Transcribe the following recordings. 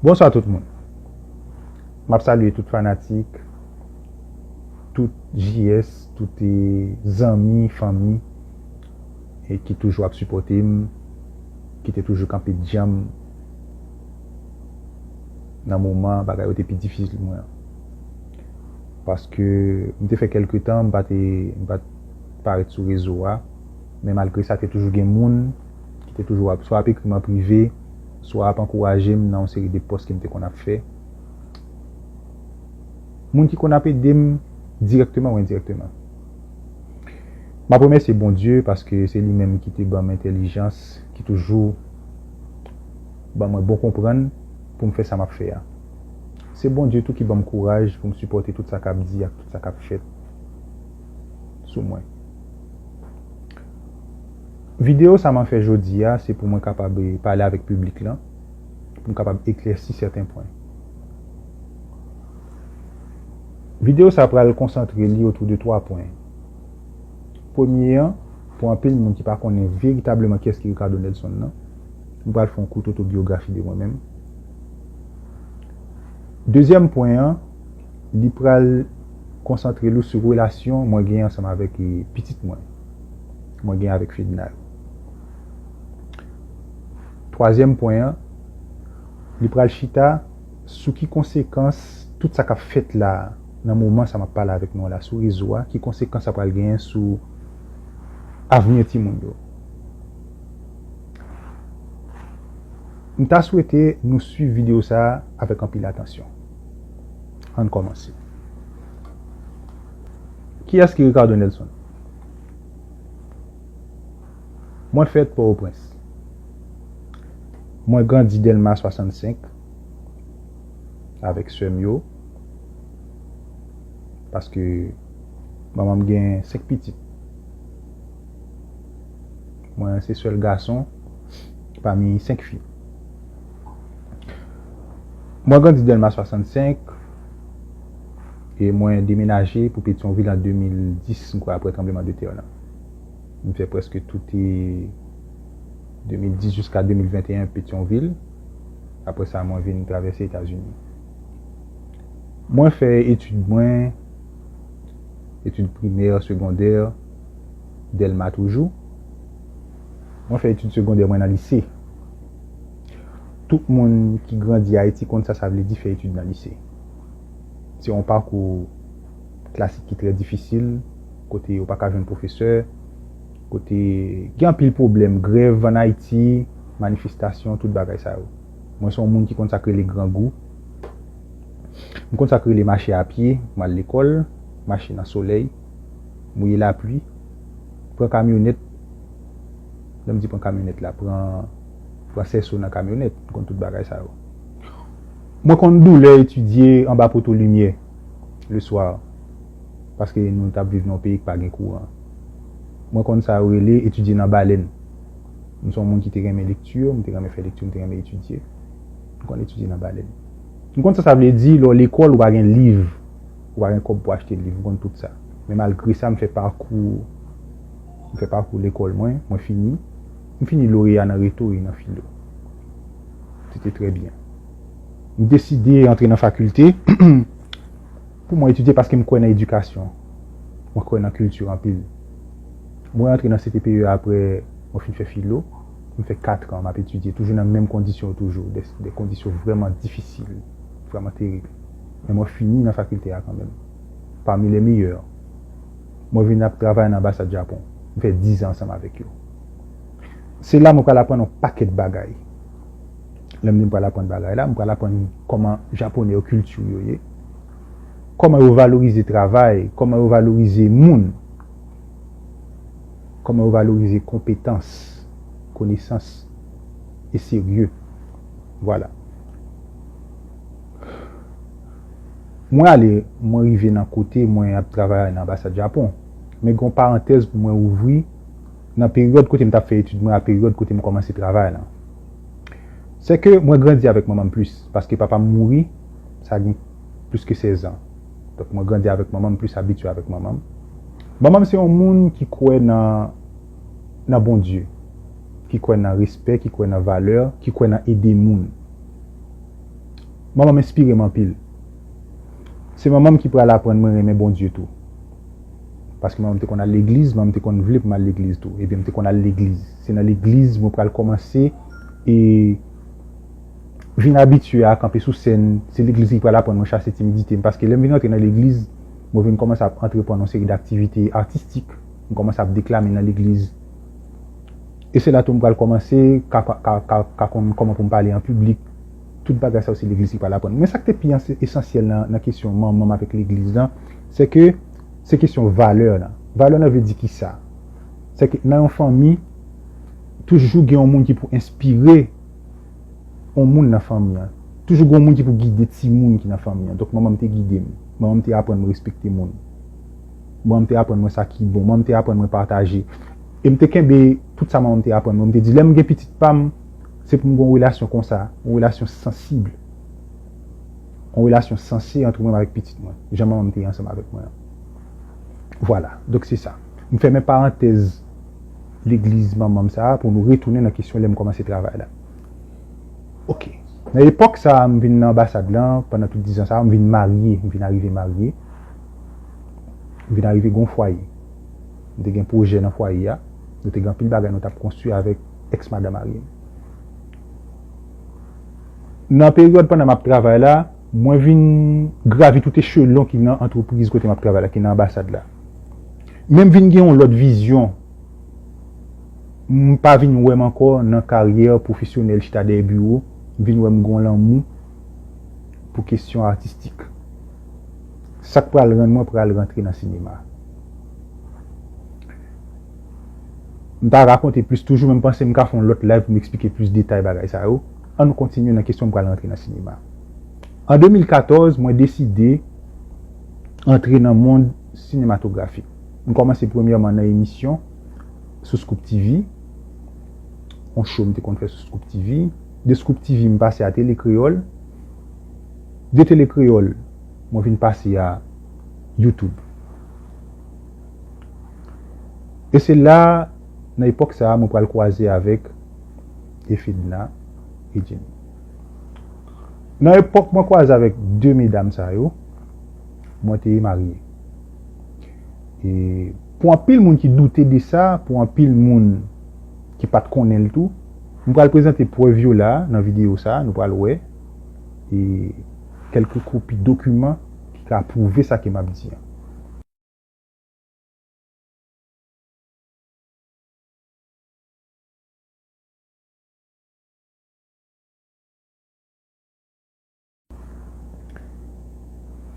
Bonswa tout moun. M ap salye tout fanatik, tout JS, tout zanmi, fanmi e ki toujou ap sipòte m, ki te toujou kanpe djanm nan moman bagay yo te pi difisil pou mwen an. Paske m te fè kèlke tan m pa te m pa t parèt sou rezo a men malgre sa te toujou gen moun ki te toujou ap, swa ap ekri m an prive, swa ap ankouraje m nan yon seri de pòs ke m te konn ap fè. Moun ki konn ap ede m dirèkteman ou endirèkteman. M ap remèsye Bondye paske se li menm ki te ban m entèlijans, ki toujou ban mwen bon konprann pou m fè sa m ap fè a. Se Bondye tou ki ban m kouraj pou m sipòte tout sa k ap di ak tout sa k ap fèt sou mwen. Videyo sa mwen fè jodi a, se pou mwen kapab pale avèk piblik lan, pou m kapab eklèsi sèten pwen. Videyo sa pral konsantre li otou de twa pwen. Premye an, pou anpil moun ki pa konnen veritableman kiyès ki Ricardo Nelson nan, m pral fè yon kout otobyografi de mwen menm. Dezyèm pwen an, li pral konsantre l ou sou relasyon mwen gen ansanm avèk pitit mwen, mwen gen avèk Fedna yo. Twazyèm pwen an, li pral chita sou ki konsekans tout sa k ap fèt la a, nan moman sa m ap pale avèk nou an la, sou rezo a, ki konsekans sa pral genyen sou avni timoun yo. M ta swete nou swiv videyo sa a avèk anpil atansyon. Ann kòmanse. Kiyès ki Ricardo Nelson? Mwen fèt Pòtoprens. Mwen grandi Dèlma 65 avèk sè m yo paske manman m gen senk pitit. Mwen se sèl gason pami senk fi. Mwen grandi Dèlma 65 e mwen demenaje pou Petyonvil an 2010 m kwè aprè tranbleman de tè lan. M fè prèske toute 2010 jiska 2021 Petyonvil, aprè sa mwen vin travèse Etazini. Mwen fè etid mwen, etid primè, segondè, Dèlma toujou. Mwen fè etid segondè mwen nan lise. Tout moun ki grandi Ayiti konn sa sa vle di fè etid nan lise. Se yon pakou klasik ki trè difisil, kote yo pa ka jwenn pwofesè, kote gen anpil pwoblèm, grèv ann Ayiti, manifestasyon, tout bagay sa yo. Mwen se yon moun ki konn sa k rele grangou. M konn sa k rele mache a pye pou m al lekòl, mache nan solèy, mouye lapli, pran kamyonèt. Lè m di pran kamyonèt la, pran pran sèso nan kamyonèt, m konn tout bagay sa yo. Mwen konn doulè etidye anba poto limyè le swa paske nou t ap viv nan yon peyi ki pa gen kouran. Mwen konn sa yo rele etidye nan balèn. M se yon moun ki te renmen lekti, m te renmen fè lekti, m te renmen etidye. M konn etidye nan balèn. M konn sa sa vle di lè w lekòl ou pa gen liv, ou pa gen kòb pou w achte liv, m konn tout sa. Men malgre sa m fè pakou. M fè pakou lekòl mwen, mwen fini. M fini loreya nan reto e nan filo. Se te trè byen. M deside antre nan fakilte pou mwen etidye paske m kwè nan edikasyon. Mwen kwè nan kilti anpil. Mwen antre nan CTPE aprè mwen fin fè filo. M fè katran m ap etidye toujou nan menm kondisyon toujou, de kondisyon vrèman difisil, vrèman terib. Men mwen fini nan fakilte a kanmenm, pami lè meyè. mwen vin ap travay nan anbasad Japon, m fè dizan ansanm avèk yo. Se la mwen pral aprann yon pakèt bagay. Lè m di m pral aprann bagay la, m pral aprann kòman Japonè yo, kilti yo ye, kòman yo valorize travay, kòman yo valorize moun, kòman yo valorize konpetans, konesans e serye. Vwala. Mwen ale, mwen rive nan kote mwen ap travay nan anbasad Japon. Men gen yon parantèz pou mwen ouvri nan peryòd kote m t ap fè etid mwen a peryòd kote m kòmanse travay lan. Sè ke mwen grandi avèk manman m plis paske papa m mouri sa gen plis ke sèzan. Donk mwen grandi avèk manman m, plis abitye avèk manman m. Manman m se yon moun ki kwè nan nan Bondye, ki kwè nan respè, ki kwè nan valè, ki kwè nan ede moun. Manman m enspire m anpil. Se manman m ki pral aprann mwen renmen Bondye tou. Paske manman m te konn al legliz, manman m te konn vle pou m al legliz tou. Ebyen m te konn al legliz. Se nan legliz mwen pral kòmanse e vin abitye a kanpe sou sèn. Se legliz ki pral aprann mwen chase timidite m. Paske lè m vin antre nan legliz, mwen vin kòmanse ap antreprann yon seri daktivite atistik. M kòmanse ap deklame nan legliz. E se la tou m pral kòmanse ka ka ka ka konn kòman pou m pale an piblik. Tout bagay sa yo se legliz ki pral aprann. Men sa k te pi anse esansyèl nan nan kesyon manman m avèk legliz lan, se ke se kesyon valè lan. Valè lan vle di ki sa? Se ke nan yon fanmi, toujou gen yon moun ki pou enspire yon moun nan fanmi an. Toujou gen yon moun ki pou gide timoun ki nan fanmi an. Donk manman m te gide m. Manman m te aprann m respekte moun. Manman m te aprann mwen sa ki bon. Manman m te aprann mwen pataje. e m te kenbe tout sa manman m te aprann mwen. M te di, lè m gen pitit pa m, se pou m gen yon relasyon konsa, yon relasyon sansib, yon relasyon sanse antre mwen menm avèk pitit mwen, jan manman m te ansanm avèk mwen an. Vwala, donk se sa. M fèmen parantèz legliz manman m sa a pou nou retounen nan kesyon lè m kòmanse travay la. Ok. Nan epòk sa a, m vin nan anbasad lan, pandan tout dizan sa yo, m vin marye, m vin arive marye, m vin arive gen yon fwaye. Nou te gen pwojè nan fwaye a. Nou te gen anpil bagay nou t ap konstwi avèk ex madan marye m. Nan peryòd pandan m ap travay la, mwen vin gravi tout echelon ki nan antrepriz kote m ap travay la, ki nan anbasad la. Men m vin gen yon lòt vizyon. M pa vin wè m ankò nan karyè pwofesyonèl chita dèyè biwo. M vin wè m gen yon lanmou pou kesyon atistik. Sa k pral rann mwen pral rantre nan sinema. M ta rakonte plis toujou men m panse m ka fè yon lòt live pou m eksplike plis detay bagay sa yo. Ann kontinye nan kesyon m pral rantre nan sinema. An 2014 mwen deside antre nan mond sinematografi. M kòmanse premyèman nan emisyon sou Scoop TV, yon show m te konn fè sou Scoop TV. De Scoop TV m pase a Tele Kreyòl. De Tele Kreyòl mwen vin pase a. YouTube. E se la, nan epòk sa a, mwen pral kwaze avèk Efedna e Jenny. Nan epòk mwen kwaze avèk 2 medam sa yo, mwen te marye. E pou anpil moun ki doute de sa, pou anpil moun ki pa t konnen l tou, m pral prezante prèv yo la nan videyo sa a, nou pral wè. E. kèlke kopi dokiman ki ka pwouve sa ke m ap di an.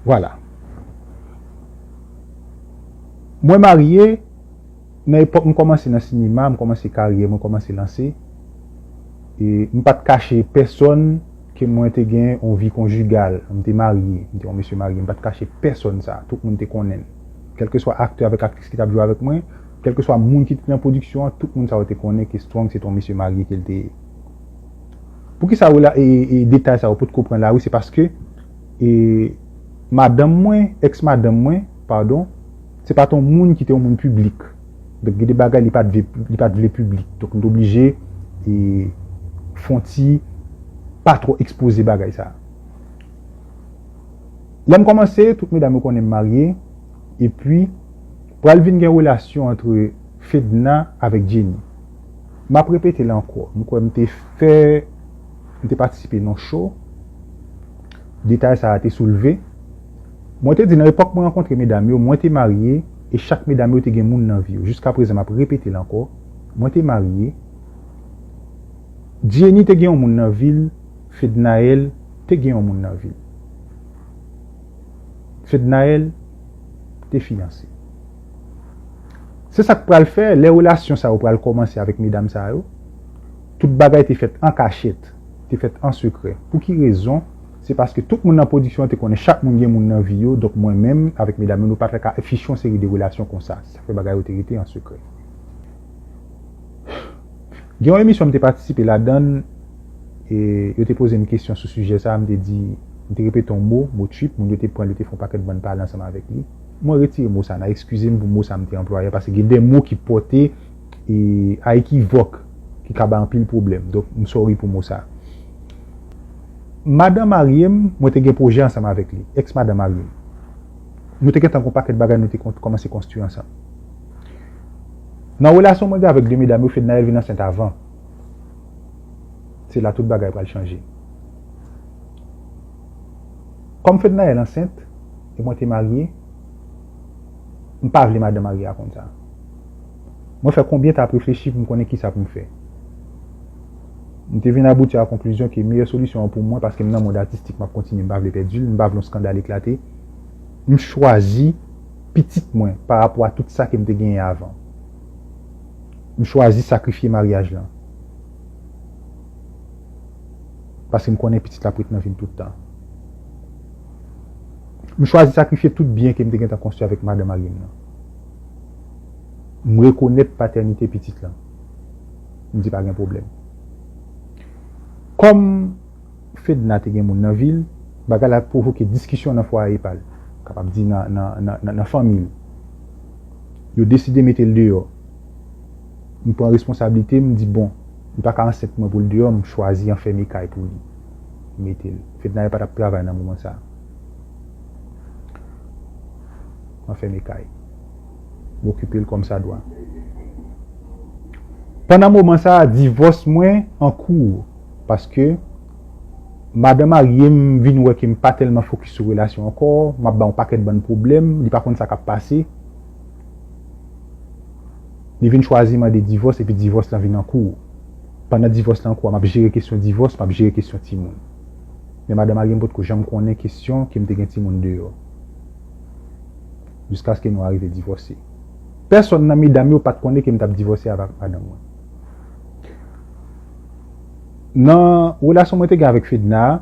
Vwala. Mwen marye. Nan epòk m kòmanse nan sinema, m kòmanse karyè mwen kòmanse lanse, e m pa t kache pèsòn ke mwen te gen yon vi konjigal, m te marye, m te yon mesye marye, m pa t kache pèsòn sa, tout moun te konnen l. Kèlkeswa aktè avèk aktris ki t ap jwe avèk mwen, kèlkeswa moun ki te nan pwodiksyon an, tout moun sa yo te konnen ke Strong se te yon mesye marye ke l te ye. Poukisa rela e e detay sa yo potko pran lari, se paske e madanm mwen, ex madanm mwen, padon, Se pa t yon moun ki te yon moun piblik. Donk gen de bagay li pa t li pa t vle piblik. Donk li te oblije fè yon ti pa twò ekspoze bagay sa. Lè m kòmanse, tout medam yo konnen m marye. Epi, pral vin gen relasyon antre Fedna avèk Jenny. M ap repete l ankò, m kwè m te fè, m te patisipe nan yon show, detay sa a te soulve. Mwen te di nan epòk mwen rankontre medam yo, mwen te marye e chak medam yo te gen moun nan vi yo. Jiska prezan map repetel ankò, mwen te marye, Jenny te gen yon moun nan vil, Fednaelle te gen yon moun nan vil. Fednaelle te fiyanse. Se sak pral fè lè relasyon sa yo pral kòmanse avèk medam sa yo, tout bagay te fèt an kachèt, te fèt an sekrè. Pouki rezon? Se paske tout moun nan pwodiksyon an te konnen chak moun gen moun nan vi yo, donk mwen menm avèk medam yo nou pa t ka afiche yon seri de relasyon konsa, sa fè bagay yo te rete an sekrè. Gen yon emisyon m te patisipe ladan l, yo te poze m kesyon sou sijè sa a, m te di, m te repete yon mo, mo trip, moun yo te pran l, yo te fè yon pakèt bann pale ansanm avèk li. Mwen retire mo sa a, n a eskize m pou mo sa a m te anplwaye a, paske gen de mo ki pòte a ekivòk, ki ka bay anpil pwoblèm, donk m sòri pou mo sa a. Madan marye m, mwen te gen pwojè ansanm avèk li, ex madan marye m. Nou te gentan gen yon pakèt bagay nou te kòmanse konstwi ansanm. Nan relasyon mwen gen avèk 2 medam yo Fednaelle vin ansent avan. Se la tout bagay pral chanje. Kòm Fednaelle ansent e mwen te marye, m pa vle madan marye a konn sa. Mwen fè konbyen tap reflechi pou m konnen kisa pou m fè. M te vin abouti a konklizyon ke meyè solisyon an pou mwen, paske m nan mond atistik m ap kontinye m pa vle pèdi l, m pa vle yon skandal eklate, m chwazi pitit mwen pa rapò a tout sa ke m te genyen avan. M chwazi sakrifye maryaj lan. Paske m konnen pitit la ap ret nan vi m tout tan. M chwazi sakrifye tout byen ke m te gentan konstwi avèk madan marye m nan. M rekonèt patènite pitit lan. M di pa gen pwoblèm. Kòm Fedna te gen moun nan vi l, bagay la pwovoke diskisyon nan fwaye pa l, m kapab di nan fanmi l. Yo deside mete l deyò. M pran responsablite m, m di bon, li pa ka ansent mwen pou l deyò, m chwazi anfème kay pou li. M mete l. Fednaelle pa t ap travay nan moman sa a. Anfème kay. m okipe l kòmsadwa. Pandan moman sa a, divòs mwen an kou paske madan marye m vin wè ke m pa tèlman fokis sou relasyon an ankò, m ap ba yon pakèt bann pwoblèm, li pa konn sa k ap pase. Li vin chwazi mande divòs epi divòs lan vin an kou. Pandan divòs lan an kou a, m ap jere kesyon divòs, m ap jere kesyon timoun. Men madan marye m potko janm konnen kesyon ke m te gen timoun deyò. jiskaske nou arive divòse. Pèsòn nan medam yo pa t konnen ke m t ap divòse avèk madanm mwen. Nan relasyon mwen te gen avèk Fedna a,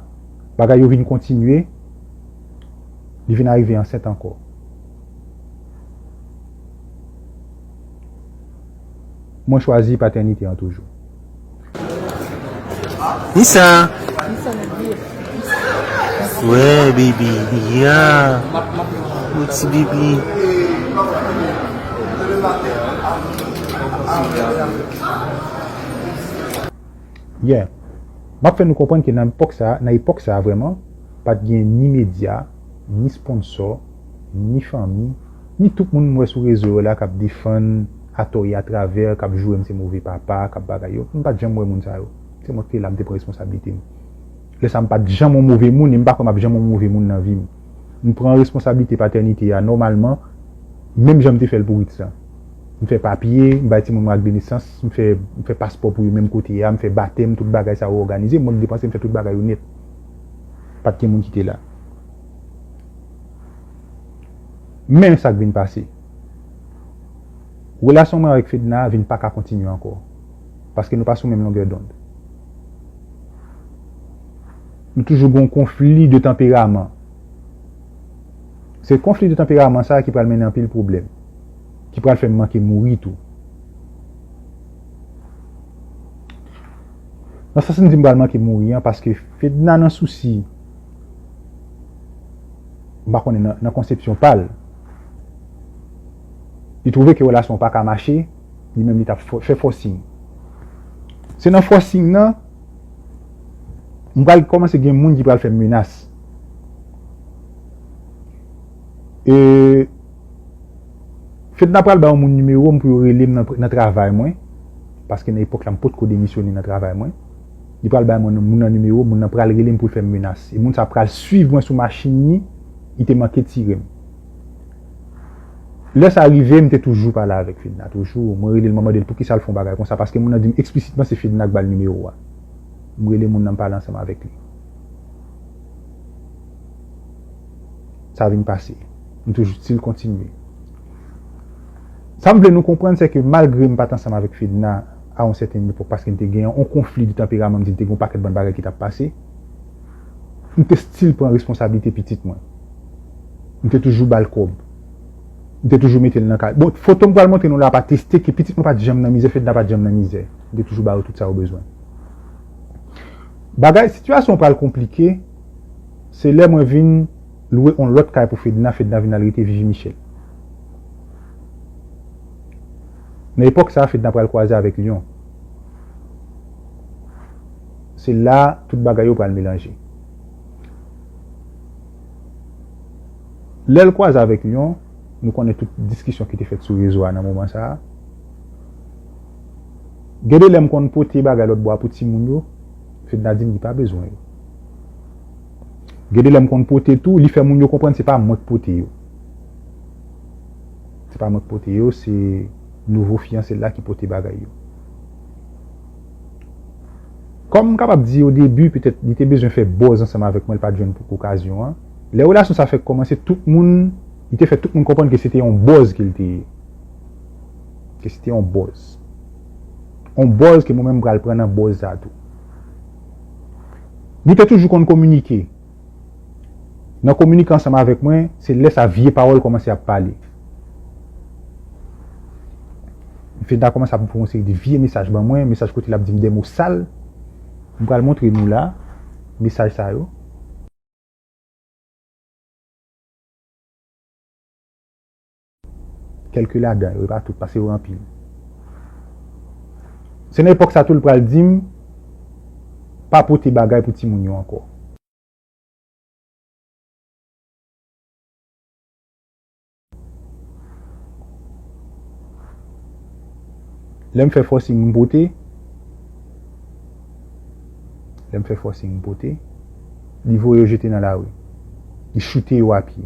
bagay yo vin kontinye, li vin arive ansent ankò. Mwen chwazi patènite an toujou. Nisa wè bebe ya wè ti bebe yè map fè nou konprann ke nan epòk sa nan epòk sa vrèman pat gen ni medya ni sponsò ni fanmi ni tout moun m wè sou rezo yo la kap defann Atò e atravè k ap joure m se move papa, k ap bagay yo. M pa t janm wè moun sa yo. Se mwen k te la, m te pran responsablite m. Lè sa a m pa t janm yon move moun e m pa kwè m ap janm yon move moun nan vi m. M pran responsablite patènite a nòmalman, menm jan m te fè l pou Ritz lan. M fè papye, m bay timoun mwen akdenesans, m fè m fè paspò pou yo menm kote a, m fè batèm, tout bagay sa yo òganize, mwen k depanse, m fè tout bagay yo nèt. Pa t gen moun ki te la. Men sa k vin pase. Relasyon mwen avèk Fedna vin pa ka kontinye ankò. Paske nou pa sou menm longè dond. Nou toujou gen yon konfli de tanperaman. Se konfli de tanperaman sa a ki pral mennen anpil pwoblèm. Ki pral fè m manke mouri tou. Nan sans m di m pral manke mouri an, paske Fedna nan sousi, m pa konnen nan konsepsyon pa l, Li trouve ke relasyon an pa ka mache, li menm li tap fè fòsing. Se nan fòsing nan, m pral kòmanse gen moun ki pral fè menas. E, Fedna pral ba yon moun nimewo m pou yo rele m nan travay mwen, paske nan epòk la m potko demisyone nan travay mwen. Li pral bay moun nan nimewo, moun nan pral rele m pou l fè m menas. E moun sa pral suiv mwen sou machin ni, li te manke tire m. Lè sa rive, m te toujou pale avèk Fedna, toujou. Mwen rele l, mwen mande l poukisa l fè yon bagay konsa, paske moun nan di m eksplisitement se Fedna k ba l nimewo a. M rele moun nan, m pale ansanm avèk li. Sa vin pase. M toujou stil kontinye. Sa m vle nou konprann se ke malgre m pa t ansanm avèk Fedna a yon sèten epòk paske n te gen yon konfli de tanperaman m di l te gen yon pakèt bann bagay ki t ap pase, m te stil pran responsablite pitit mwen. M te toujou ba l kòb. M te toujou mete l nan kay. Bon, foto m pral montre nou la ap ateste ke pitit mwen pa t janm nan mizè, Fedna pa t janm nan mizè. M te toujou ba yo tout sa yo bezwen. Bagay, sitiyasyon an pral konplike, se lè mwen vin. lwe on lòt kay pou Fedna, Fedna vin al rete Vivi Michel. Nan epòk sa, Fedna pral kwaze avèk Lyon. Se la tout bagay yo pral melanje. Lè l kwaze avèk Lyon, nou konnen tout diskisyon ki te fèt sou rezo a nan moman sa. Gen de lè m konn pote bagay lòtbò a pou timoun yo, Fedna di m li pa bezwen yo. Gen de lè m konn pote tou, li fè moun yo konprann se pa mwen k pote yo. Se pa mwen k pote yo, se nouvo fiyanse l la ki pote bagay yo. Kòm m kapab di o debi, petèt li te bezwen fè buzz ansanm avèk mwen, l pa t jwenn okazyon an. Lè relasyon sa fèk kòmanse, tout moun, li te fè tout moun konprann ke se te yon buzz ke l te ye. Ke se te yon buzz. Yon buzz ke mwen menm m pral pran nan buzz sa tou. Nou te toujou konn kominike. Nan kominike ansanm avèk mwen, se lè sa vye pawòl kòmanse ap pale. Fedna kòmanse ap voye yon seri de vye mesaj ban mwen, mesaj kote l ap di m de mo sal. M pral montre nou la, mesaj sa yo. Kèlke ladan yo, e pa tout, pase yo anpil. Se nan epòk sa tou l pral di m pa pote bagay pou timoun yo ankò. Lè m fè fòsing m pote, lè m fè fòsing m pote, li voye yo jete nan lari. Li choute yo a pye.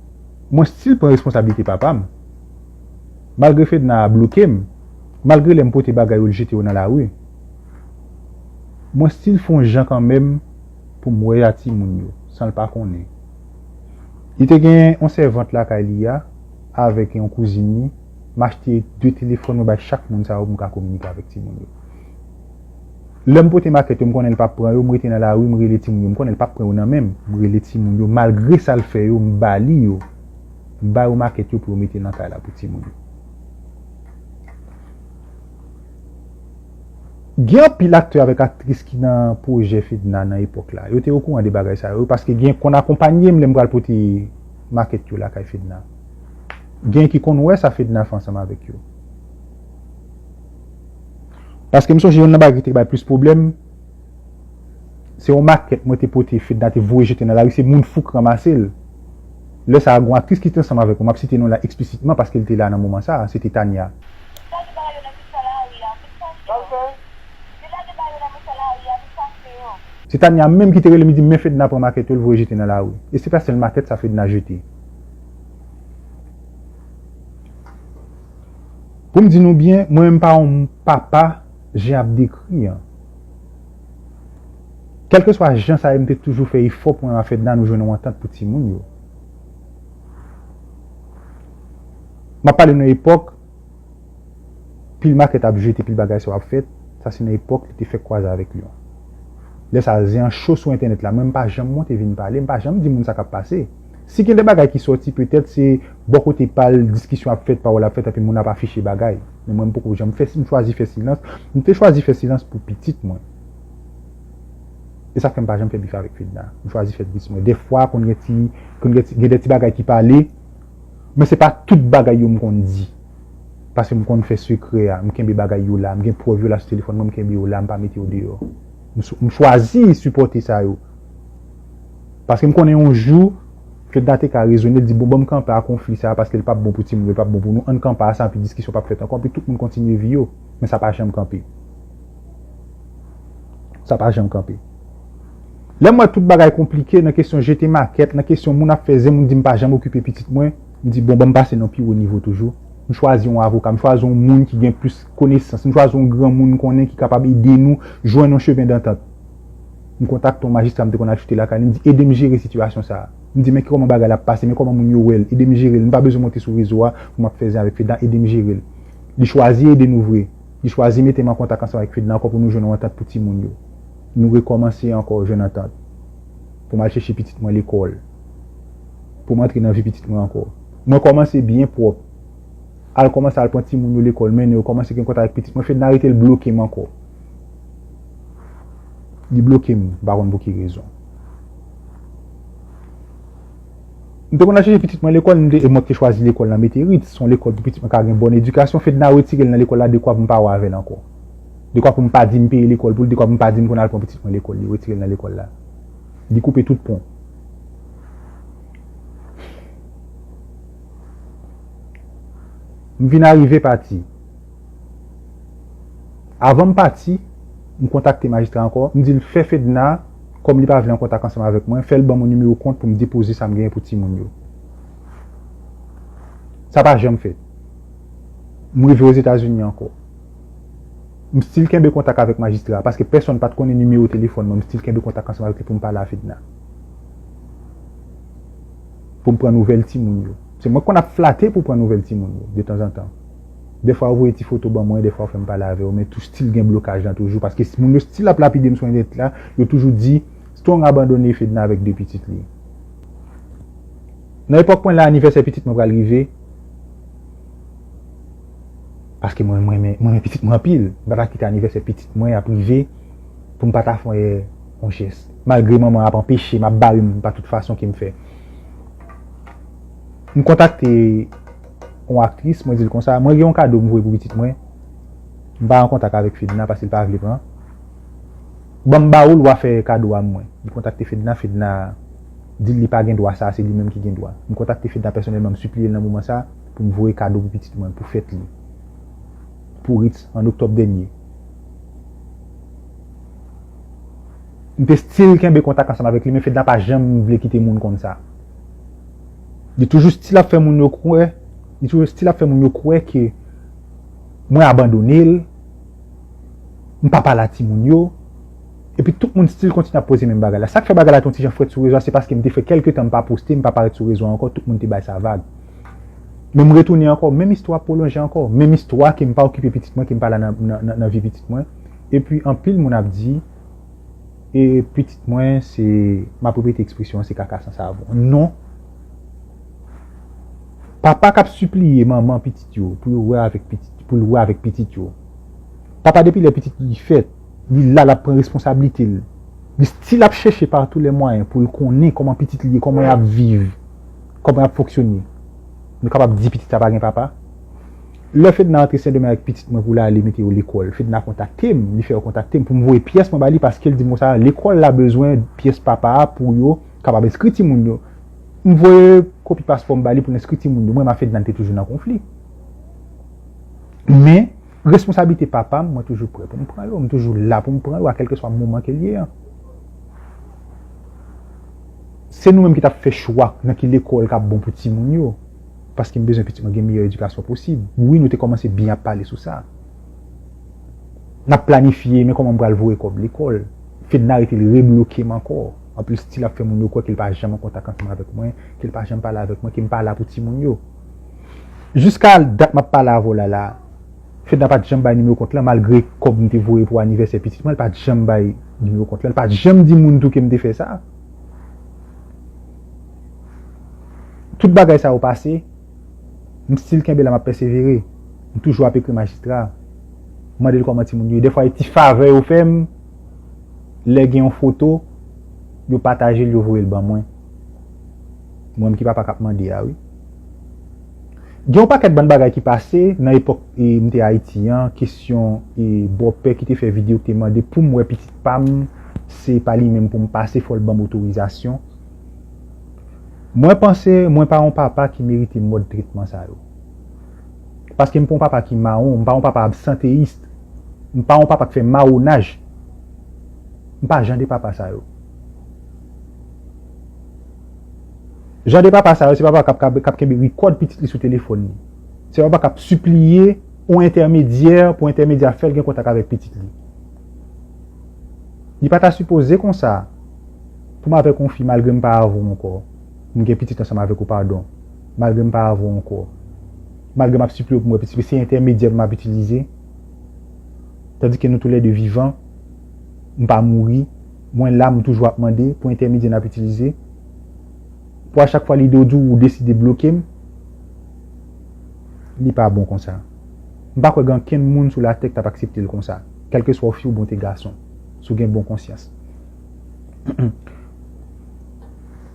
Mwen stil pran responsablite papa m. Malgre Fedna a bloke m, malgre lè m pote bagay yo l jete yo nan lari. Mwen stil fon jan kanmenm pou m wè a timoun yo, san l pa konnen. Li te gen yon sèvant lakay li a avèk yon kouzin li, m achte 2 telefòn mwen bay chak moun sa yo pou m ka kominike avèk timoun yo. Lèm pote makèt yo m konnen l pap pran yo m rete nan lari m rele timoun yo m konnen l pap pran yo nan men m m rele timoun yo malgre sa l fè yo m ba li yo m ba yo makèt yo pou yo mete nan kay la pou timoun yo. Gen anpil aktè avèk aktris ki nan pwojè Fedna nan epòk la yo te okouran de bagay sa yo paske gen konn akonpanye m lè m pral pote makèt yo lakay Fedna gen ki konn wè sa Fedna fè ansanm avèk yo. Paske m sonje yonn nan bagay ki te bay plis pwoblèm, se yon makèt mwen te pote Fedna te voye jete nan lari, se moun fou k ranmase l. Lè sa a, gon aktris ki te ansanm avèk mwen, m ap site non l la eksplisitman paske l te la nan moman sa a, se te Tania. Li lage ba yo nan mitan lari a, vin chache yo. Li lage ba yo nan mitan lari a, vin chache yo. Se Tania menm ki te rele m, li di m, men Fedna pran makèt yo, l voye jete nan lari. E se pa sèl makèt sa Fedna jete. Pou m di nou byen, mwen menm m pa yon papa jan y ap dekri an. Kèlkeswa jan sa ye m te toujou fè efò pou mwen ak Fedna nou jwenn yon antant pou timoun yo. M ap pale nan epòk pil makèt ap jete, pil bagay sa yo ap fèt, sa se nan epòk li te fèk kwaze avèk Lyon. Lè sa a zen an cho sou entènèt la, mwen m pa janm monte vin pale, m pa janm di moun sa k ap pase. Si gen de bagay ki sòti petèt se. Bò kote pa l, diskisyon ap fèt, pawòl ap fèt epi moun ap afiche bagay. Men mwen m poko janm fè, m chwazi fè silans. M te chwazi fè silans pou pitit mwen. E sa k fè m pa janm fè bif avèk Fedna. M chwazi fè bif mwen. Dèfwa konn gen ti, konn gen ti, gen de ti bagay ki pale, men se pa tout bagay yo m konn di. Paske m konn fè sekrè a, m kenbe bagay yo la, m gen prèv yo la sou telefòn mwen, m kenbe yo la, m pa mete yo deyò. M chwazi sipòte sa yo. Paske m konnen yon jou Fedna te ka rezone l di bon ban m kanpe a konfli sa a paske l p ap bon pou timoun yo, l p ap bon pou nou, an n kanpe a sa anpi diskisyon p ap fèt ankò anpi tout moun kontinye vi yo. Men sa pa janm kanpe. Sa pa janm kanpe. Lè m wè tout bagay konplike nan kesyon jete makèt, nan kesyon moun ap fè zen, moun di m pa janm okipe pitit mwen, m di bon ban m pase nan pi wo nivo toujou, m chwazi yon avoka, m chwazi yon moun ki gen plis konesans, m chwazi yon granmoun m konnen ki kapab ede nou jwenn yon chemen dantant. M kontakte yon majistra m te konn al choute lakay li, m di ede m jere sitiyasyon sa a. M di men ki kòman bagay la ap pase, men kòman moun yo wè l, ede m jere l, m pa bezwen monte sou rezo a pou m ap fè zen avèk Fedna, ede m jere l. Li chwazi ede nou vre. Li chwazi mete m an kontak ansanm avèk Fedna ankò pou nou jwenn yon antant pou timoun yo. Nou rekòmanse ankò jwenn antant pou m al chèche pitit mwen lekòl, pou m antre nan vi pitit mwen ankò. Mwen kòmanse byen pwòp, al kòmanse al pran timoun yo lekòl, mennen yo, kòmanse gen kontak ak pitit mwen. Fedna rete l bloke m ankò. Li bloke m, m pa konn pou ki rezon. M te konn al chèche pitit mwen lekòl, m te, e mwen te chwazi lekòl nan Meterit, son lekòl pou pitit mwen ka gen bòn edikasyon, Fedna retire l nan lekòl la dekwa pou m pa wè avè l ankò. Dekwa pou m pa di m peye lekòl pou l, dekwa pou m pa di m konn al pran pitit mwen lekòl, li retire l nan lekòl la. Li koupe tout pon. M vin arive pati. Avan m pati, m kontakte majistra ankò, m di l fè Fedna, kòm li pa vle an kontak ansanm avèk mwen, fè l ban mwen nimewo kont pou m depoze sa m genyen pou timoun yo. Sa pa janm fèt. M rive Ozetazini ankò. M stil kenbe kontak avèk majistra a, paske pèsonn pa t konnen nimewo telefòn mwen, m stil kenbe kontak ansanm avèk li pou m pale a Fedna. Pou m pran nouvèl timoun yo. Se mwen k konn ap flate pou pran nouvèl timoun yo, detanzantan. Dèfwa ou voye ti foto ban mwen, dèfwa ou fèm pale avèw men tou stil gen blokaj lan toujou paske moun yo stil ap lapidem sou entènèt la, yo toujou di Strong abandone Fedna avèk 2 pitit li. Nan epòk mwen la anivèsè pitit mwen pral rive paske mwen renmen pitit mwen anpil, m pa ta kite anivèsè pitit mwen ap rive poum pa ta fè yon jès malgre manman ap anpechem, ap barem pa tout fason kem fè. M kontakte yon aktris, mwen di l konsa, mwen gen yon kado m voye pou pitit mwen, m pa an kontak avèk Fedna paske l pa vle pran. Ban m ba ou l wa fè kado a mwen. Li kontakte Fedna, Fedna di l li pa gen dwa sa, se li menm ki gen dwa. M kontakte Fedna pèsonèlman, m sipliye l nan moman sa pou m voye kado pou pitit mwen, pou fèt li, pou Ritz an oktòb dènye. M te stil kenbe kontak ansanm avèk li men Fedna pa janm vle kite moun konn sa. Li toujou stil ap fè moun yo kwè, li toujou stil ap fè moun yo kwè ke mwen abandone l, m pa pale a timoun yo, epi tout moun stil kontinye ap poze menm bagay la. Sa k fè bagay la te yon ti jan frèt sou rezo a, se paske m te fè kèlke tan m pa poste, m pa parèt sou rezo a ankò, tout moun te bay sa vag. Men m retounen ankò, menm istwa ap pwolonje ankò, menm istwa ke m pa okipe pitit mwen, ke m pa la nan vi pitit mwen, epi anpil moun ap di. E pitit mwen se, m ap repete ekspresyon an, se kaka san savon. Non! Papa k ap sipliye manman pitit yo pou yo wè avèk pitit, pou l wè avèk pitit yo. Papa depi lè pitit li fèt, li la l ap pran responsablite l. Li stil ap chèche pa tou lè mwayen pou l konnen kòman pitit li ye, kòman y ap viv, kòman y ap fonksyone. Nou kapab di pitit sa pa gen papa? Lè Fedna antre Sendomeng ak pitit mwen pou l ale mete yo lekòl, Fedna kontakte m, li fè yo kontakte m pou m voye pyès mwen ba li paske l di m konsa, lekòl la bezwen pyès papa a pou yo kapab enskri timoun yo. M voye kopi paspò m ba li pou l enskri timoun yo. Mwen menm ak Fedna n te toujou nan konfli. Men, responsablite papa m, mwen toujou prè pou m pran yo. M toujou la pou m pran yo a kèlkeswa moman ke l ye an. Se nou menm ki t ap fè chwa nan ki lekòl k ap bon pou timoun yo. Paske m bezwen pitit mwen gen meyè edikasyon posib. Wi nou te kòmanse byen ap pale sou sa. N ap planifye men kòman m pral voye kòb lekòl. Fedna rete li rebloke m ankò. Anpil stil ap fè moun yo kwè ke l pa janm an kontak ansanm avèk mwen, ke l pa janm pale avèk mwen, ke m pa la pou timoun yo. Jiska dat m ap pale avè w la la, Fedna pa t janm bay nimewo kont lan malgre kòb m te voye pou anivèsè pitit mwen l pa t janm bay nimewo kont lan. L pa t janm di moun tou ke m te fè sa. Tout bagay sa yo pase, m still kenbe la m ap pèsevere. M toujou ap ekri majistra, m mande l kòman timoun yo ye. Dèfwa gen ti favè yo fè m, lè gen yon foto, yo pataje l, yo voye l ban mwen. Mwen menm ki papa k ap mande a wi. Gen yon pakèt bann bagay ki pase nan epòk m te Ayiti an, kesyon bòpè ki te fè videyo ki te mande pou m wè pitit. pam se pa li menm poum pase fòl banm otorizasyon mwen panse mwen pa yon papa ki merite mòd tretman sa yo paske m pa yon papa ki mawon m pa yon papa absanteyis m pa yon papa k fè mawonaj m pa jan de papa sa yo jan de papa sa yo se papa kap kenbe rikòd pitit li sou telefòn li se papa kap sipliye yon entèmedyè pou entèmedyè a fèl gen kontak avèk pitit li. Li pa ta sipoze konsa pou m avèk yon fi malgre m pa avè w ankò, m gen pitit ansanm avèk ou padon, malgre m pa avè w ankò, malgre m ap sipliye w pou m wè pitit men se entèmedyè m ap itilize tandike nou tou lè 2 vivan, m pa mouri, mwen la m toujou ap mande pou entèmedyè n ap itilize pou a chak fwa li do di w ou deside bloke m, li pa bon konsa. M pa kwè gen ankenn moun sou latè ki t ap aksepte l konsa, kèlkeswa w fi ou byen w te gason, si w gen bon konsyans.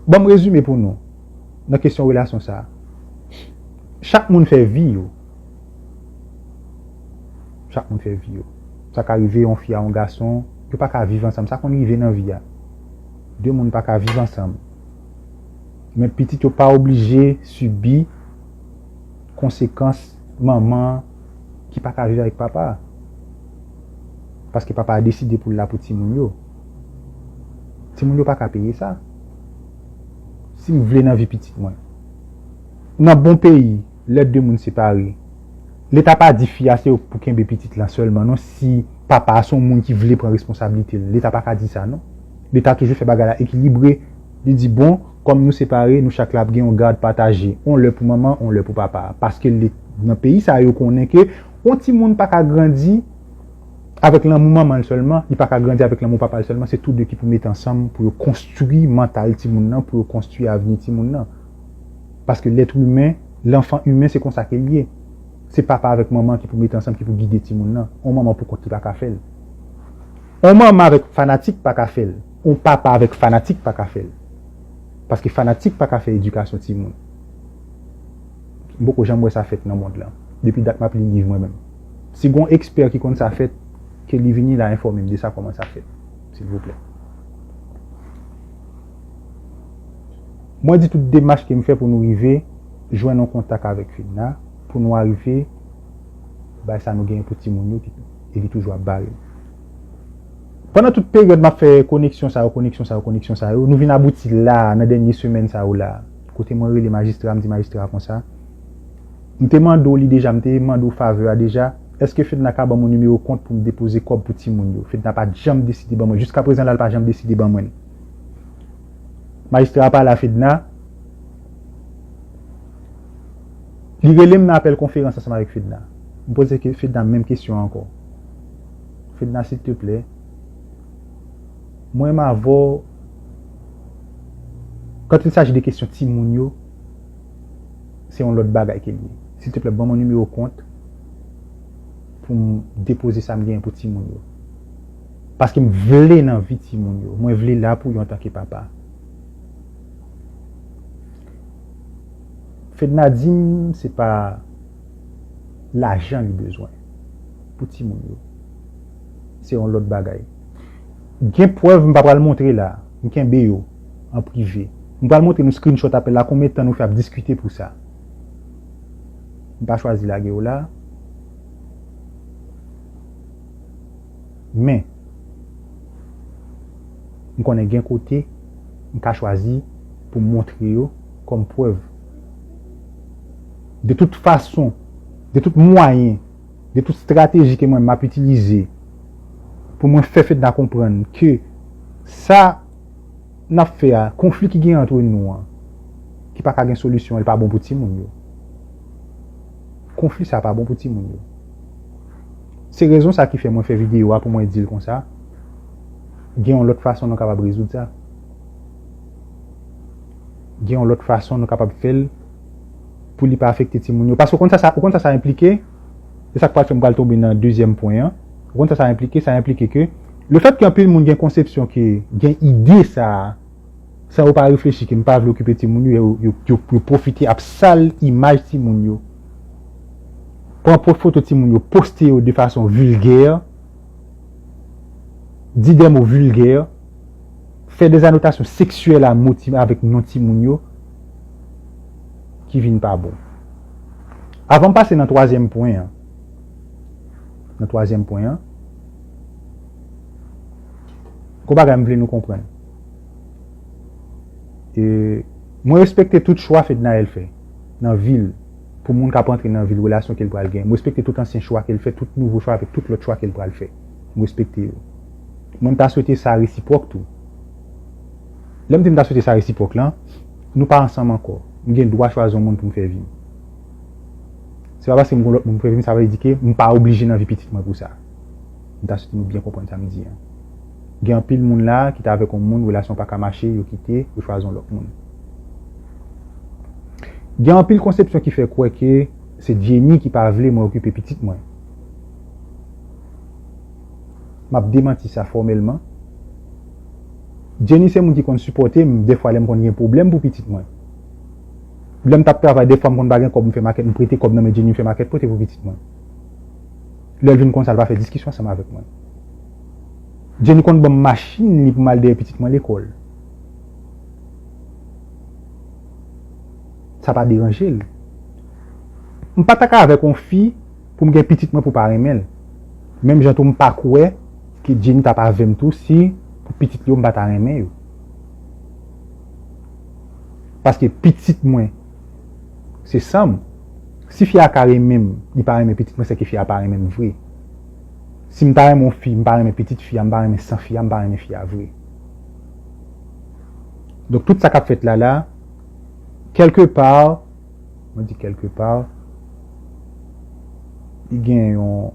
Ban m rezime pou nou nan kesyon relasyon sa a. Chak moun fè vi yo. Chak moun fè vi yo. Sa ka rive yon fi a yon gason, yo pa ka viv ansanm. Sa konn rive nan vi a. De moun pa ka viv ansanm. Men pitit yo pa oblije sibi. konsekans manman an ki pa ka viv avèk papa a. Paske papa a deside pou l la pou timoun yo. Timoun yo pa ka peye sa. Si m vle nan vi pitit mwen. Nan bon peyi, lè de moun separe, leta pa di fi a se pou kenbe pitit lan sèlman non si papa a se yon moun ki vle pran responsablite l. Leta pa ka di sa non. Leta toujou fè bagay la ekilibre. Li di bon, kòm nou separe, nou chak la ap gen yon gad pataje, yon lè pou manman, yon lè pou papa. Paske li, nan peyi sa yo konnen ke yon timoun pa ka grandi avèk lanmou manman l sèlman, li pa ka grandi avèk lanmou papa l sèlman, se tou de ki pou mete ansanm pou yo konstwi mantal timoun nan, pou yo konstwi avni timoun nan. Paske lèt imen, lanfan imen se konsa ke l ye. Se papa avèk manman ki pou mete ansanm, ki pou gide timoun nan. Yon manman pou kont li pa ka fè l. Yon manman avèk fanatik pa ka fè l. On papa avèk fanatik pa ka fèl. Paske fanatik pa ka fè edikasyon ti moun. M poko janm wè sa fèt nan mond lan. Depi dat map li liv mwen menm. Si gon ekspè ki konn sa fèt, ke li vini la enfòmem de sa kòman sa fèt. Silvouplè. Mwen di tout demach ke m fè pou nou rive jwenn on kontak avèk Fedna pou nou arive bay sa nou genyen pou ti moun yo e li toujou ap bare. Pandan tout peryòd m ap fè koneksyon sa yo, koneksyon sa yo, koneksyon sa yo, nou vin abouti la a, nan dènye semèn sa yo la a, kote mwen rele majistra, m di majistra a konsa, M te mande w li deja, m te mande w favè a deja, èske Fedna ka ban mwen nimewo kont pou m depoze kòb pou timoun yo? Fedna pa t janm deside ban mwen, jiskaprezan la, l pa janm deside ban mwen l. Majistra a pale a Fedna, li rele m nan apèl konferans ansanm avèk Fedna. M poze Fedna menm kesyon an ankò. Fedna silteplè Mwen m avè w Quand il s'agit de kesyon timoun yo Se yon lòt bagay ke l ye Silteplè ban mwen nimewo kont Pou m depoze sa m genyen pou timoun yo Paske m vle nan vi timoun yo Mwen vle la pou yo antan ke papa Fedna di m se pa Lajan li bezwen pou timoun yo. Se yon lòt bagay. M gen prèv m pa pral montre la. M kenbe yo an prive. M pral montre nou screenshot apèl la konbyen tan nou fè ap diskite pou sa. M pa chwazi lage yo la. Men, m konnen gen kote m ka chwazi pou m montre yo kòm prèv. De tout fason. De tout mwayen, de tout strateji ke mwen map itilize pou mwen fè Fedna konprann ke sa nap fè a, konfli ki gen antre nou an, ki paka gen solisyon an, li pa bon pou timoun yo. Konfli sa pa bon pou timoun yo. Se rezon sa ki fè mwen fè videyo a pou mwen dil konsa, gen yon lòt fason nou kapab rezoud sa. Gen yon lòt fason nou kapab fèl. pou li pa afekte timoun yo. Paske ou konn sa sa, ou konn sa sa enplike? Se sa k pral fè m pral tonbe nan dezyèm pwen an. Ou konn sa sa enplike? Sa enplike ke lefètke anpil moun gen konsepsyon ke, gen ide sa a, san yo pa reflechi ke m pa vle okipe timoun yo, yo, yo, yo pwofite ap sal imaj timoun yo, pran pwòp foto timoun yo, poste yo de fason vilgè, di dè mo vilgè. fè dezanotasyon seksyèl a mo ti avèk non timoun yo ki vin pa bon. Avan m pase nan twazyèm pwen an, nan twazyèm pwen an, gwo bagay m vle nou konprann. E mwen respekte tout chwa Fednaelle fè nan vi l pou moun k ap antre nan vi l, relasyon ke l pral gen. M respekte tout ansyen chwa ke l fè, tout nouvo chwa avèk tout lòt chwa ke l pral fè. M respekte yo. Mwen m ta swete sa resipwòk tou. Lè m di m ta swete sa resipwòk lan, nou pa ansanm ankò. M gen dwa chwazi yon moun pou m fè vi m. Se pa paske m gen yon lòt moun pou m fè vi m sa vle di ke m pa oblije nan vi pitit mwen pou sa. M ta swete nou byen konprann sa m di an. Gen anpil moun la ki ta avèk yon moun, relasyon an pa ka mache, yo kite, yo chwazi yon lòt moun. Gen anpil konsepsyon ki fè kwè ke se Jenny ki pa vle mwen okipe pitit mwen. m ap demanti sa fòmèlman. Jenny se moun ki konn sipòte m dèfwa lè m konn gen pwoblèm pou pitit mwen. Lè m t ap travay dèfwa m konn pa gen kòb m fè makèt m prete kòb nan men Jenny m fè makèt pote pou pitit mwen. Lè l vin konn sa l pa fè diskisyon ansanm avèk mwen. Jenny konn ban m machin li pou m al dèyè pitit mwen lekòl. Sa pa deranje l. M pa t ak avèk yon fi. poum gen pitit mwen pou pa renmenl menm jan tou mpa kwè ke Jenny tap avèm tou si pou pitit li yo mpa ta renmen yo paske pitit mwen se sanm si fi a ka renmenm li pa renmen pitit mwen sèke fi a pa renmenm vre sim ta renmen yon fi mpa renmen pitit fi a mpa renmen san fi a mpa renmen fi a vre donk tout sa kap fèt la la kelke par. Mwen di kelke pa, li gen yon,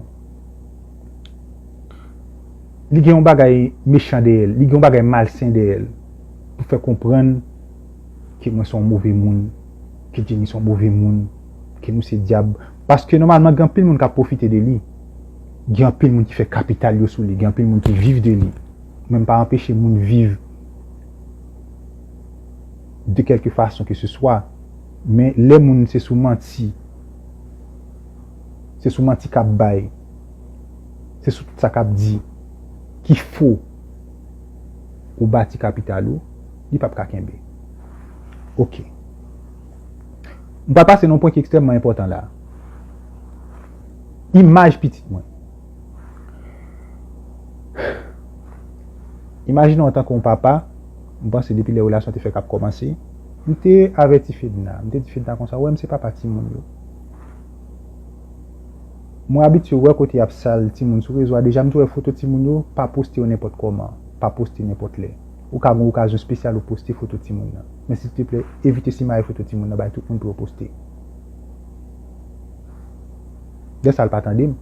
li gen yon bagay mechan dèyè l, li gen yon bagay malsen dèyè l, pou fè konprann ke mwen son move moun, ke Jenny son move moun, ke nou se dyab. Paske nòmalman gen anpil moun k ap pwofite de li, gen anpil moun ki fè kapital yo sou li, gen anpil moun ki viv de li. Mwen m pa anpeche moun viv. de kèlke fason ke se swa, men lè moun se sou manti, se sou manti k'ap bay, se sou tout sa k'ap di ki fo ou bati kapital ou, li p'ap ka kenbe. Ok. M pral pase nan yon pwen ki ekstrèmman enpòtan la a. Imaj pitit mwen. Imajine w antanke yon papa. M panse depi lè relasyon te fèk ap kòmanse, m te avèti Fedna, m te di Fedna konsa, wè m se papa timoun yo. Mwen abitye wè kote y ap sal timoun sou rezo a, deja m te wè foto timoun yo, pa poste yo nenpòt kòman, pa poste nenpòt lè. Ou ka gen yon okazyon espesyal ou poste foto timoun nan. Men silteplè, evite simaye foto timoun nan bay tout moun pou yo poste. Lè sa a l pa tande m.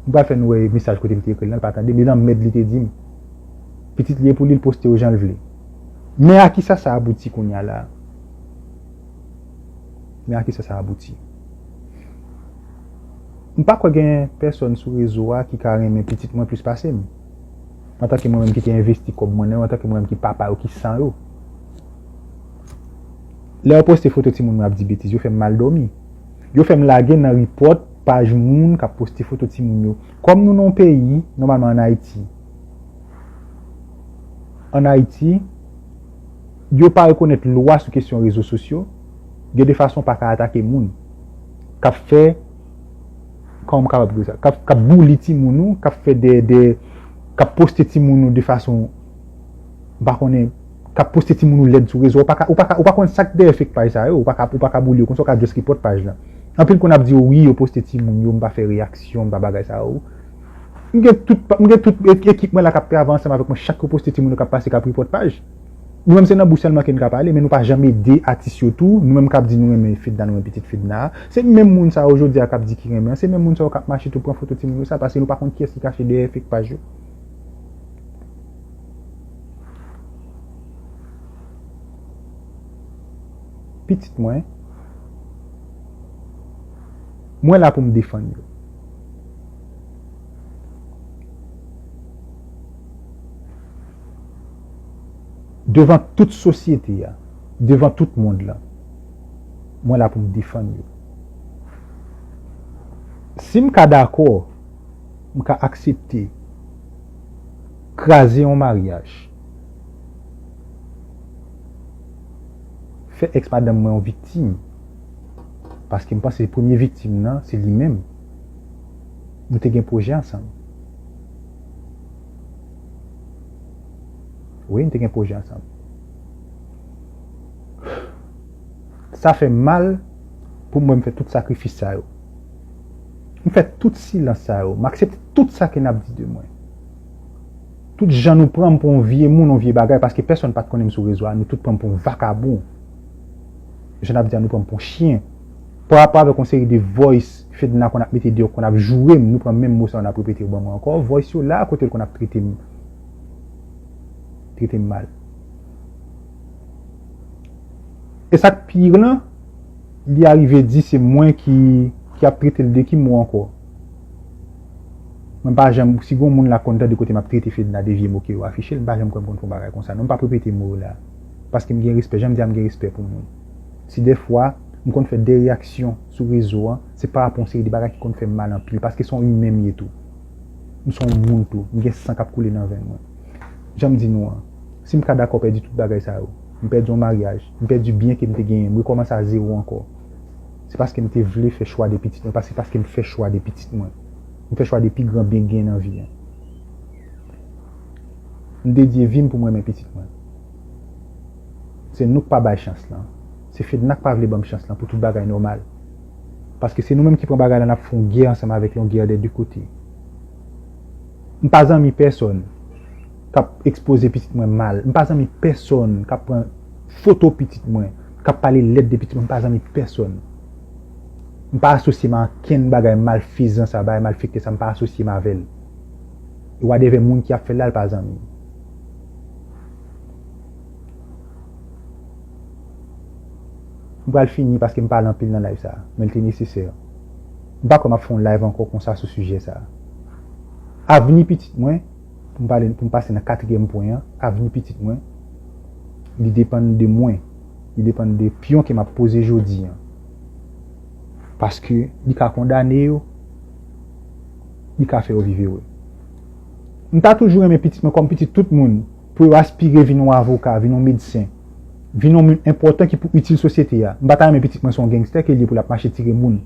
M pral fè nou wè mesaj kote m te ekri l lan, l pa tande m, e lanmèd li te di m. Pitit li e pou li l poste yo jan l vle. Men a kisa sa abouti kounye a la a? Men a kisa sa abouti? M pa kwè gen pèsòn sou rezo a ki ka renmen pitit mwen plis pase m. Antanke mwen menm ki te envesti kòb mwen nan yo, antanke mwen menm ki papa yo, ki san yo. Lè yo poste foto timoun mwen ap di betiz, yo fè m mal dòmi. Yo fè m lage nan ripòt paj moun k ap poste foto timoun yo. Kòm nou nan yon peyi, nòmalman an Ayiti. ann Ayiti, yo pa rekonèt lwa sou kesyon rezo sosyo, gen de fason w pa ka atake moun k ap fè, kòman m kapab di sa, k ap buli timoun ou, k ap fè de, de, k ap poste timoun ou de fason, m pa konnen, k ap poste timoun ou lèd sou rezo a, ou pa ka, ou pa ka, ou pa konnen sa k dèyè fake paj sa yo, ou pa ka, ou pa ka buli yo konsa, ou ka just report paj la. Anpil konn ap di w wi yo poste timoun yo, m pa fè reyaksyon, m pa bagay sa yo. M gen tout m gen tout ekip mwen la k ap travay ansanm avèk mwen chak yo poste timoun yo k ap pase k ap report paj Nou menm se nan bouch sèlman ke n ka pale men nou pa janm ede atis yo tou Nou menm k ap di nou renmen Fedna nou renmen pitit Fedna a se menm moun sa yo jodi a k ap di ki renmen an se menm moun sa yo k ap mache tou pran foto timoun yo sa paske nou pa konn kiyès ki kache dèyè fake paj yo. Pitit mwen Mwen la pou m defann yo. Devan tout sosyete a, devan tout mond lan, mwen la pou m defann yo. Si m ka dakò, m ka aksepte kraze yon maryaj, fè ex madanm mwen yon viktim. Paske m panse premye viktim nan se li menm. Nou te gen pwojè ansanm. Wi, nou te gen pwojè ansanm. Sa fè m mal pou m wè m fè tout sakrifis sa yo. M fè tout silans sa yo. M aksepte tout sa ke n ap di de mwen. Tout jan nou pran m pou yon vye moun, yon vye bagay, paske pèsonn pa t konnen m sou rezo a, nou tout pran m pou yon vakabon. jan nap di a nou pranm pou chyen parapò avèk yon seri de voice fedna konn ap mete deyò konn ap jourem nou pran menm mo sa yo nap repete yo ban mwen ankò voice yo la kotel konn ap tretem tretem mal esak pi pire lan li arive di se mwen ki ki ap tretel de ki mo ankò mwen pa janm si gon moun la konn tande kote map trete fedna de vye mo ke yo afiche mpa janm kwèm konn fon bagay konsa non mpa prepete mo yo la. paske m gen respè, jan m di a m gen respè pou moun. Si dèfwa m konn fè de reyaksyon sou rezo an, se parapò yon seri de bagay ki konn fè m mal anpil, paske se yon imen m ye tou. M se yon moun tou, m gen san k ap koule nan venn mwen. Jan m di nou an, si m ka dakò pèdi tout bagay sa yo, m pèdi yon maryaj, m pèdi byen ke m te genyen, m rekòmanse a zewo ankò, se paske m te vle fè chwa de pitit mwen, paske se paske m fè chwa de pitit mwen. M fè chwa de pi gran byen k genyen nan vi an. M dedye vim pou m renmen pitit mwen. Se nou k pa bay chans lan. Se Fedna k pa vle banm chans lan pou tout bagay nòmal. Paske se nou menm ki pran bagay la n ap fè yon gè ansanm avèk yon gè dè de kote. M pa zanmi pèsonn k ap ekspoze pitit mwen mal. M pa zanmi pèsonn k ap pran foto pitit mwen, k ap pale lèd de pitit mwen. M pa zanmi pèsonn. M pa asosye m a ankenn bagay malfezan sa, bagay malfekte sa. M pa asosye m avè l. E wadevè moun ki ap fè l la l pa zanmi m. M pral fini paske m pale anpil nan live sa a, men l te nesesè. M pa kwè m ap fè yon live ankò konsa sou sijè sa a. Avni pitit mwen, pou m pale, pou m pase nan katriyèm pwen an, avni pitit mwen, li depann de mwen. Li depann de pyon ke m ap poze jodi an. Paske li ka kondane yo. li ka fè yo viv ere. M ta toujou renmen pitit mwen kòm pitit tout moun pou yo aspire vin yon avoka, vin yon medsen, vin yon moun enpòtan ki pou itil sosyete a. M pa ta renmen pitit mwen se yon gangster ke li ye pou l ap mache tire moun.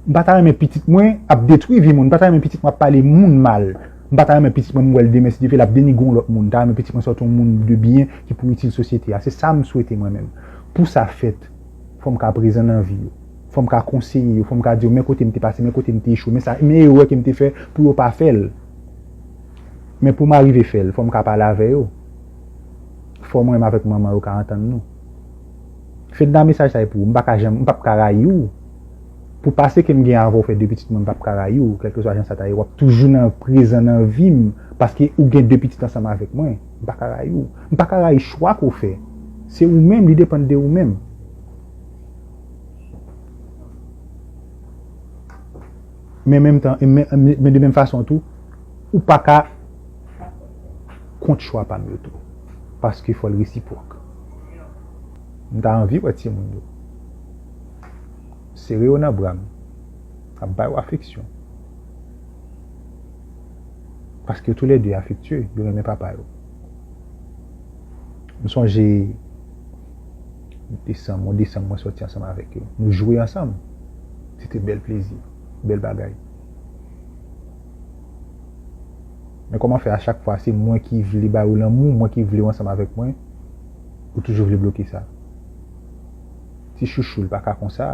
M pa ta renmen pitit mwen ap detwi vi moun. M pa ta renmen pitit mwen ap pale moun mal. M pa ta renmen pitit mwen m wè l demen si Dye vle l ap denigre yon lòt moun. M ta renmen pitit mwen sòti yon moun de byen ki pou itil sosyete a. Se sa m swete mwen menm. Pou sa fèt, fò m ka prezan nan vi yo. Fò m ka konseye yo, fò m ka di yo men kote m te pase, men kote m te echwe, men sa, men erè ke m te fè pou yo pa fè l. Men pou m arive fè l, fò m ka pale avè yo. Fò mwen menm avèk manman yo ka antann nou. Fedna mesaj sa e pou ou. M pa ka janm, m pap ka rayi ou. Pou pase ke m gen avè w fè 2 pitit mwen, m pap ka rayi ou, kèlkeswa jan sa ta ye. W ap toujou nan, prezan nan vi m, paske ou gen 2 pitit ansanm avèk mwen. M pa ka rayi ou. M pa ka rayi chwa ke w fè. Se ou menm, li depann de ou menm. Men menm tan, men de menm fason tou, ou pa ka kont chwa pa m yo tou. Paske fò l resipwòk. M ta anvi wè timoun yo. Sere yo nan bra m. Ap ba yo afeksyon. Paske yo tou lè de afektye, yo renmen papa yo. M sonje. Desanm, mwen desanm mwen soti ansanm avèk yo. Nou jwe ansanm. Se te bèl plezi. Bèl bagay. Men kòman fè a chak fwa se mwen ki vle ba ou lanmou, mwen ki vle ou ansanm avèk mwen, ou toujou vle bloke sa. Ti chouchou li pa ka konsa.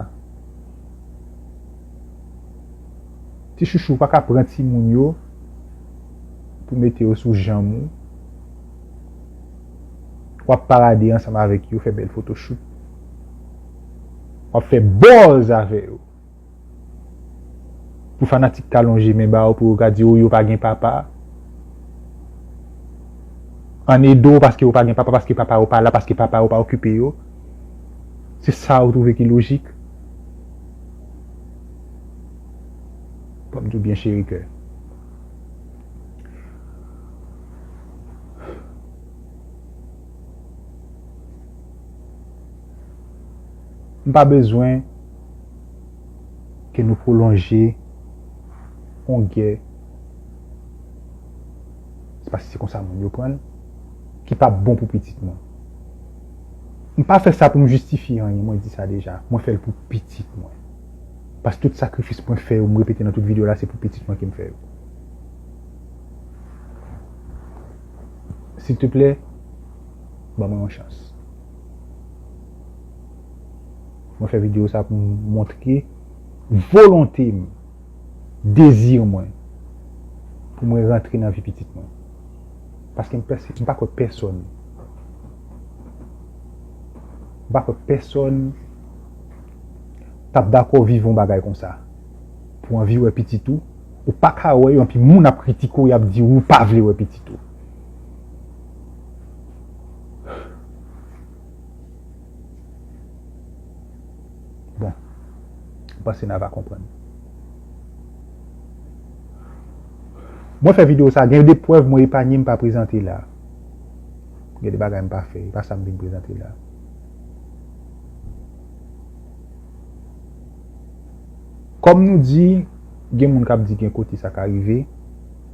Ti chouchou ou pa ka pran ti moun yo pou mete yo sou janm ou. wap parade ansanm avèk yo fè bèl foto shoot wap fè bòz avè yo pou fanatik ka lonje men ba ou pou yo ka di ou yo pa gen papa an ede ou paske ou pa gen papa paske papa ou pa la paske papa ou pa okipe yo se sa ou twouve ki lojik wap di ou byen cheri kè. M pa bezwen ke nou pwolonje yon gè, se paske se konsa moun yo pran l, ki pa bon pou pitit mwen. M pa fè sa pou m jistifye anyen, mwen di sa deja, mwen fè l pou pitit mwen. Paske tout sakrifis mwen fè yo, m repete nan tout videyo la, se pou pitit mwen ke m fè yo. S'il te plè, ban mwen yon chans. Mwen fè video sa pou montre volonte m, dezi mwen pou mwen rantre nan vi pitit mwen. Paske m pa kwè pèsòn. M pa kwè pèsòn tap dakò viv yon bagay konsa. Pou anvi wè pitit ou. Ou pa ka wè yo anpi moun ap kritike w y ap di ou pa vle wè pitit ou. Bon, m panse n a va konprann. Mwen fè videyo sa, gen de prèv mwen epanye m pa prezante la. Gen de bagay m pa fè, e pa sa m vin prezante la. Kòm nou di, Gen moun kap di gen kote sa ka rive,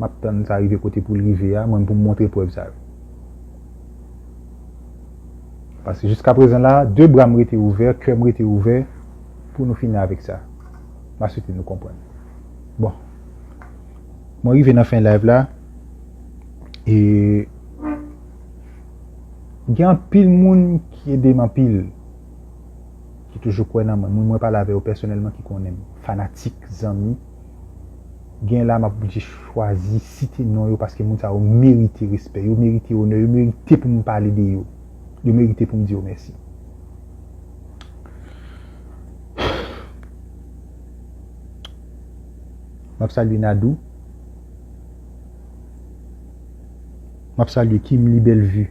map tann sa rive kote poul rive a, mwen pou m montre prèv sa yo. Paske jiska prezan la, 2 bra m rete ouvè, kè m rete ouvè pou nou fini avèk sa. Ma swete nou konprann. Bon, mwen rive nan fen live la, e gen anpil moun ki ede m anpil. ki toujou kwè nan mwen, moun mwen pale avè yo pèsonèlman ki konnen m, fanatik, zanmi, gen la m ap oblije chwazi site non yo paske moun sa yo merite respè, yo merite onè, yo merite pou m pale de yo, yo merite pou m di yo mèsi. M ap salye Nadou, m ap salye Kimli Bellevue.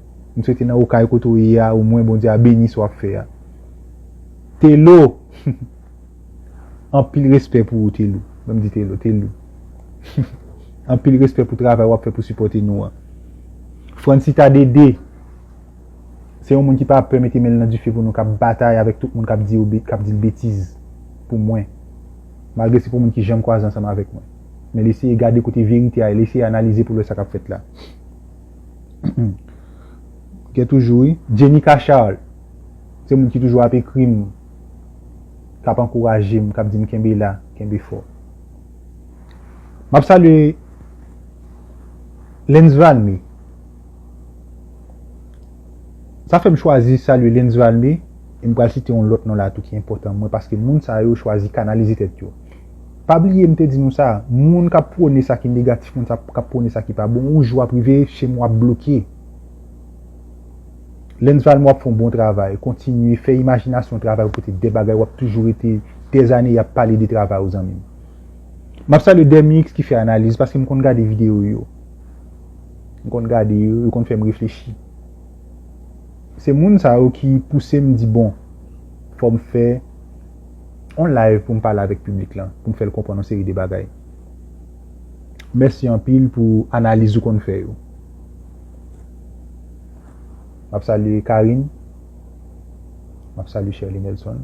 M swete nan okay kote ou ye a ou mwen Bondye a beni sa wap fè a Telo humm anpil respè pou ou Telou banm di Telo Telou humm anpil respè pou travay wap fè pou sipòte nou an Francita Dede se yon moun ki pa pè mete menl nan dife pou nou kap batay avèk tout moun kap di yo kap dil betiz pou mwen malgre se pou moun ki janm kwaze ansanm avèk mwen men l eseye gade kote verite a e l eseye analize pou l wè sa kap fèt la. Gen toujou wi. Jenica Charles se moun ki toujou ap ekri m, k ap ankouraje m, k ap di m kenbe la, kenbe fò. M ap salye Lens Valmé. Sa fè m chwazi salye Lens Valmé e m pral site yon lòt non la tou ki enpòtan mwen paske moun sa yo chwazi kanalize tèt yo. Pa bliye m te di nou sa, moun kap pwone sa ki negatif moun sa kap pwone sa ki pa bon yon jou ap rive chem wap bloke. Lens Valmore ap fè yon bon travay, kontinye fè imajinasyon travay ou pote de bagay wap toujou rete des années yap pale de travay ou zanmim. Map salye Dermix ki fè analiz paske m konn gade video yo. M konn gade yo, yo konn fèm reflechi. Se moun sa yo ki pousem di bon fòm fè. on live pou m pale avèk piblik lan, pou m fè l konprann on seri de bagay. Mèsi anpil pou analiz ou konn fè yo. M ap salye Carine. M ap salye Sherley Nelson.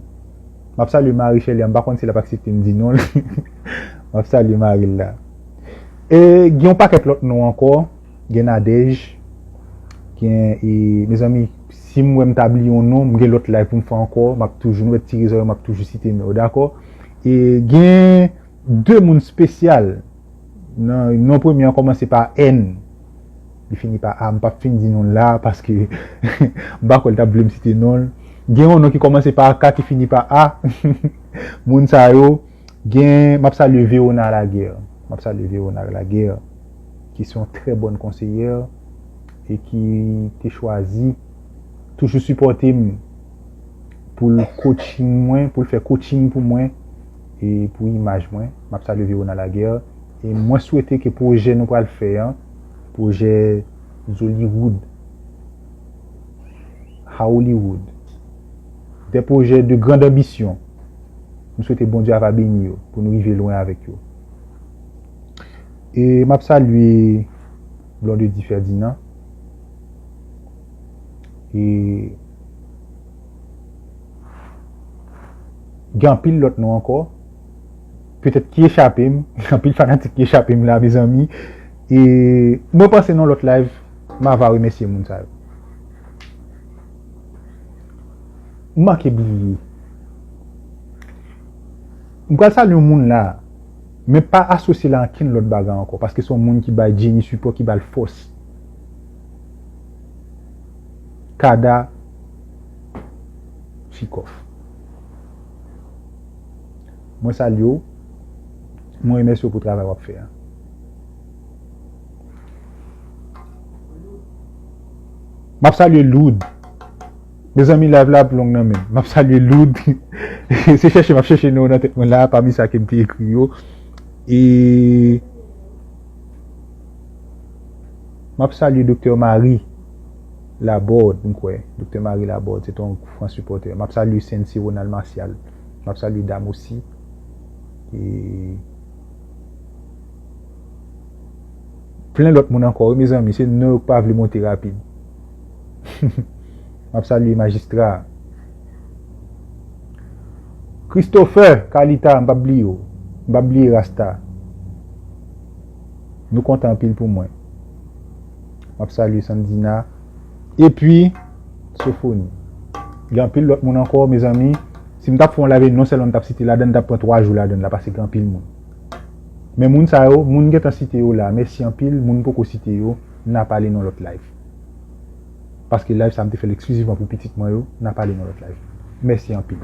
M ap salye mari Sherley an, m pa konn si l ap aksepte m di non l. M ap salye mari l la. E gen on pakèt lòt non ankò. Gen Nadège, gen e mezanmi si m wè m ta bliye yon non, m gen lòt live pou m fè ankò, m ap toujou, nou wè ti rezon yo m ap toujou site non yo dakò. E gen 2 moun spesyal, nan non premye an kòmanse pa N, li fini pa A, m p ap fin di non l la paske m pa kwè l t ap vle m site non l. Gen yon non ki kòmanse pa K ki fini pa A, moun sa yo. Gen map salye Verona Laguerre map salye Verona Laguerre ki se yon trè bòn konseyè e ki te chwazi toujou sipòte m pou l coaching mwen pou l fè coaching pou mwen e pou imaj mwen map salye Verona Laguerre e mwen swete ke pwojè nou pral fè an pwojè Zollywood Haollywood de pwojè de grand anbisyon. M swete Bondye ava beni yo pou nou rive lwen avèk yo. E map salye Blondedy Ferdinand e gen anpil lòt non ankò petèt ki echape m, gen anpil fanatik ki echape m la mezanmi e mwen panse nan lòt live m ava remèsye moun sa yo. M manke bliye. M pral salye yon moun la, men pa asosye l a ankenn lòt bagay ankò, paske se yon moun ki bay Jenny sipò, ki ba l fòs. Kada Chikoff. Mwen salye w, mwen remèsye w pou travay w ap fè a. M ap salye Lourdes. Mezanmi live la ap long nan menm. Map salye Loud. Se chèche map chèche non nan tèt mwen la pami sa kem te ekri yo. E Map salye Doktè Mari Labòd m kwè. Doktè Mari Labòd se ton fran sipòtè. Map salye Sensi Ronald Martial. Map salye Dam Osi. E Plen lòt moun ankò wi mezanmi se non yo k pa vle monte rapid. Map salye majistra a. Christopher Calita m pap bliye w. M pap bliye Rasta. Nou kontan anpil pou mwen. Map salye Sandina. Epi Sofoni. Gen anpil lòt moun ankò mezanmi. Si m tap fè yon live non sèlman m tap site ladan l tap pran 3 jou ladan l la pase gen anpil moun. Men moun sa yo, moun m gentan site yo la, mèsi anpil, moun m poko site yo. Nap ale nan lot live. Paske live sa m te fèl eksklizivman pou pitit mwen yo, nap ale nan lot live. Mèsi anpil.